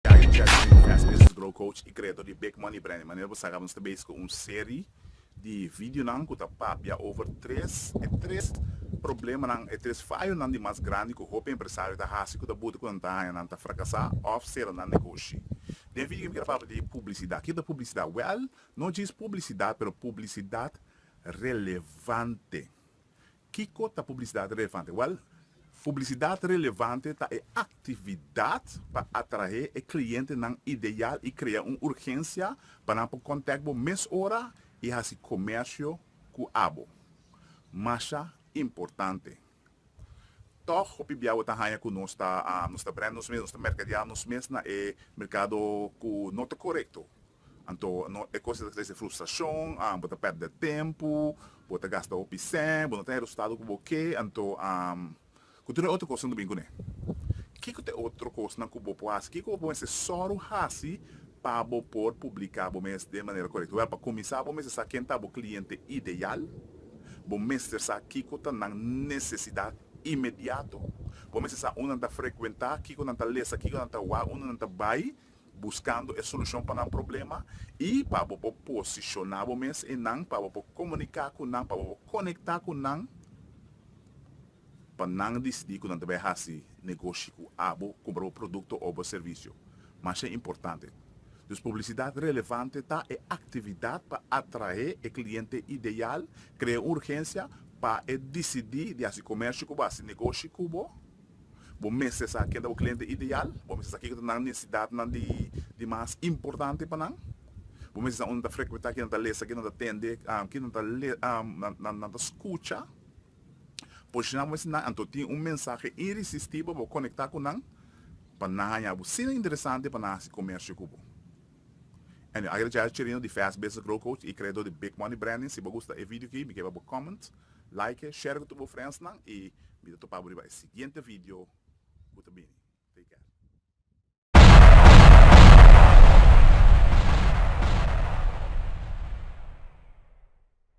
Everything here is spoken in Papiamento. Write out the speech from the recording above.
Gary Chesney di Fast Business Grow Coach i kreador di Big Money Branding manera bo sa kabanan nos ta bezig ku un seri di videonan ku ta papia over tres e tres problemanan e tres fayonan di mas grandi ku hopi empresario ta hasi ku ta buta ku nan ta haña nan ta frakasá òf sera nan negoshi. Den video mi keda papia di publisidat. Kiko ta publisidat? Wèl no djis publisidat pero publisidat relevante. Kiko ta publisidat relevante? Wèl, publisidat relevante ta e aktividat pa atraé e klientenan ideal i krea un urgensia pa nan por kòntèk bo mes ora i hasi komèrsio ku abo. Masha importante! Tòg, hopi bia bo ta haña ku nos ta nos ta brand nos mes, nos ta merkadeá nos mes na e merkado ku no ta korekto. Anto no e cos ta trece frustracion, ah, bo ta perde tempo, bo ta gasta hopi cen, bo no ta hay resultado cu bo ke, anto, ah, cu tur e otro cosnan ta bini cune. Kico ta e otro cosnan cu bo por haci? Kico cu bo mester soro haci pa bo por publica bo mes den manera corecto? Wel, pa cuminsa bo mester sa ken ta bo cliente ideal, bo mester sa kico ta nan necesidad inmediato, bo mester sa unda nan ta frecuenta, kico nan ta lesa, kico nan ta wak, unda nan ta bay, buskando e solushon pa nan problema i pa bo por posishoná bo mes i nan, pa bo por komuniká ku nan, pa bo por konektá ku nan, pa nan disidí ku nan ta bai hasi negoshi ku abo, kumpra bo produkto o bo servisio. Masha importante. Dus publisidat relevante ta e aktividat pa atraé e kliente ideal, krea un urgensia pa e disidí di hasi komèrsio ku bo, hasi negoshi ku bo, Bo mester sa ken ta bo kliente ideal. Bo mester sa kiko ta nan nesesidatnan di mas importante pa nan. Bo mester sa unda nan ta frekuentá, kinan ta lesa, kinan ta tende, kinan ta nan ta skucha. Posishoná bo mester nan anto tin un mensahe irisistibel pa bo konektá ku nan, pa nan haña bo asina interesante pa nan hasi komersio ku bo. Anyway, a gradiá Cherino di Fast Business Grow Coach i kreadó di Big Money Branding. Si bo gusta e video aki, mi ke pa bo comment. Like, share cu tur bo friendsnan y mi ta topa bo riba e siguiente video cu ta bini. Take care.